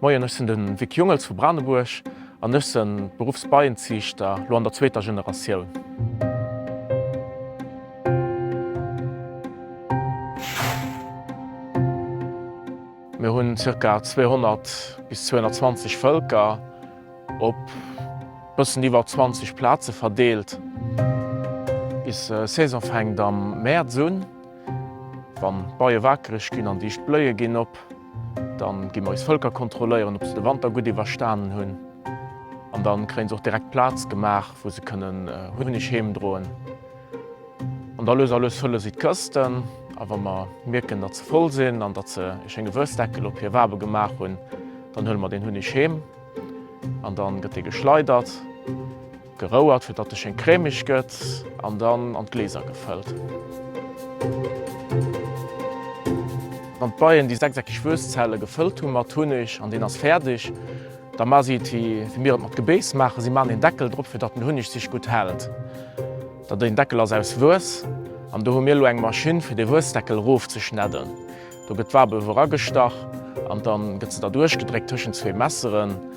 Moien, ech sinn de Vic Jungels vu Branebuerg an ech se beruffs Beienziichter, lo an der zweeter Generatioun. Mir hunn zirka 200 bis 220 Vëlker op bëssen iwwer 20 Plaze verdeelt. Bis Saison fänkt am Mäerz un. Wann d'Beie wakereg ginn an dicht Bléie ginn op, dann gi mer eis Völker kontrolléieren, ob se de Wanter gutt iwwerstanen hunn. An dann kréien se och direkt Plaz gemaach, wou se kënnen Hunneg heemdroen. An da lues a lues fëlle si d'Kësten. A wa mer mierken, datt se voll sinn an datt se e schénge Wuessdeckel op hir Wabe gemaach hunn, dann huele mer deen Hunneg heem an da gëtt dee geschleidert. Gerouert fir datt e schéin crèmig gëtt an dann an d'Gläser gefëllt. Wann d'Beien déi sechseckig Wuestzelle gefëllt hu mat Hunneg an deen ass fäerdeg, da ma si et wéi mir et mat Gebéis maachen, si maachen een Deckel drop fir datt den Hunneg sich gutt hält. Da deen Deckel ass aus Wues an do hu mir elo eng Maschinn fir dee Wuesdeckel erof ze schnedden. Do gëtt d'Wabel erof agestach an dann gëtt se derduerch gedréckt tëschent zwee Messeren.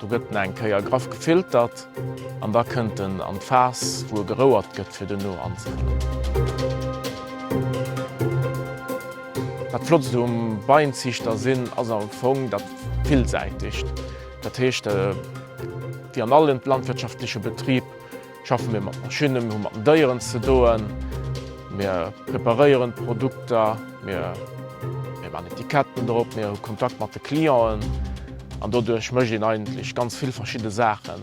Do gëtt en eng Kéier graff gefiltert an da kënnt en an d'Faass, wou e gerouert gëtt, fir duerno anzefëllen. Dat Flottst um Beienziichter sinn ass am Fong dat Villsäitegt. Dat heescht, wéi an allen landwirtschaftleche Betrib, Schaffe mir mat Maschinnen, mir hu mat den Déieren ze doen, mir preparéieren d'Produkter, mir man Etiketten drop, mir hu Kontakt mat de Clienten an doduerch mécht een eigentlech ganz vill verschidde Saachen.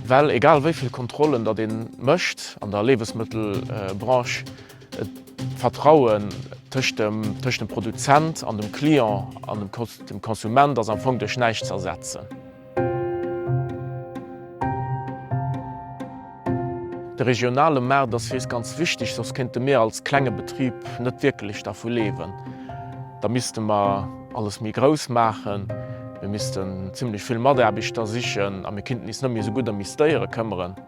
Well egal wéi vill Kontrollen datt ee mécht an der Liewesmëttelbranche, d'Vertraue tëscht dem Produzent an dem Client an dem Konsument ass am Fong duerch näischt ze ersetzen. De regionale Maart ass fir eis ganz wichteg, soss kéinte mir als klenge Betrib net wierkelech dervu leewen. Da misste mer alles méi grouss maachen, mir missten zimmlech vill Mataarbechter sichen a mir kinnten is net méi esou gutt ëm is Déiere këmmeren.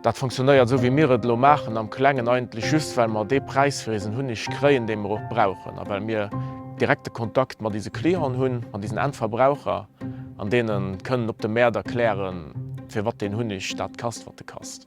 Dat funktionéiert esou wéi mir et elo maachen, am Klengen eigentlech just well mer dee Präis fir eisen Hunneg kréien, dee mer och brauchen a well mir direkte Kontakt mat eise Clienten hunn, mat eisen Endverbraucher an deene kënnen op de Mäert erklären, firwat deen Hunneg dat kasst, wat e kasst.